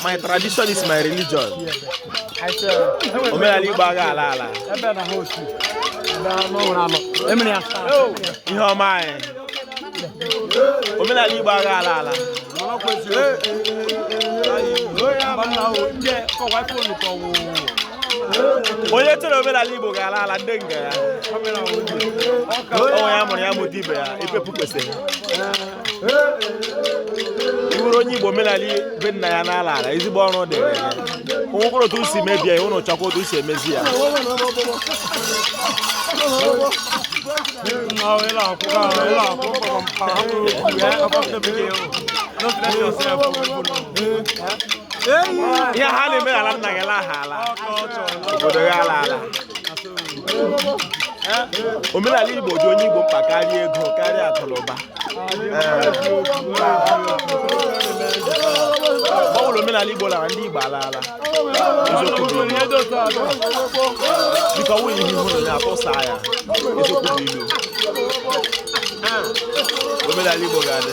my tradition is my religion omenala igbo agha ala ala ihe ọma anyị omenala igbo agha ala ala onye chere omenala igbo ga-ala ala ndị nga ya onye amụrụ ya mụta ibe ya ipepu kwesịrị bụrụ onye igbo omenala be nna ya na-ala ala ezigbo ọrụ dịrị ya onwekwara otu si mebie ya ụnụ chọkwa otu si emezi ya ihe ha na-eme ala nna gị laa ala obodo gị ala ala omenala Igbo dị onye Igbo mkpa karịa ego karịa akụnụba mgbe ọbụla omenala Igbo lara ndị Igbo alaala dịka ọnwụ ihe hụrụ na atụsa ya eziokwu bụ ilu omenala Igbo ga-adị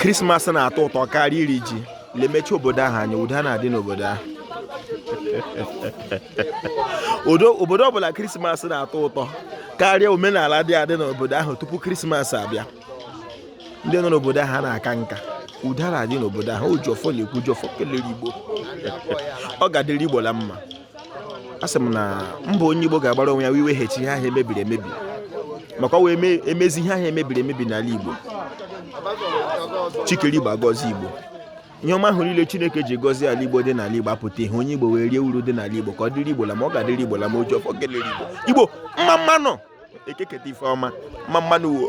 krismas na-atọ ụtọ karịa iri ji lemecha obodo ahụ anya udo na-adị n'obodo ahụ obodo ọbụla krismas na-atọ ụtọ karịa omenala dị adị n'obodo ahụ tupu krismas abịa ndị nọ n'obodo ahụ na-aka nka udo na-adị n'obodo ahụ oji ọfọ na-ekwu oji ọfọ kelere igbo ọ ga-adịrị igbo la mma a sị m na mbọ onye Igbo ga-agbara onwe ya wụ iweghachi ihe ahụ emebiri emebi maka ọ wee emezi ihe ahụ emebiri emebi n'ala Igbo chi kere Igbo agọzie Igbo ihe ọma ahụ niile Chineke ji gọzie ala Igbo dị n'ala Igbo apụta ihe onye Igbo wee rie uru dị n'ala Igbo ka ọ dịrị Igbo la mma ọ ga-adịrị Igbo la mma oji ọfọ kelere Igbo Igbo mma mma nụ ekeketa ife ọma mma mma nụ wo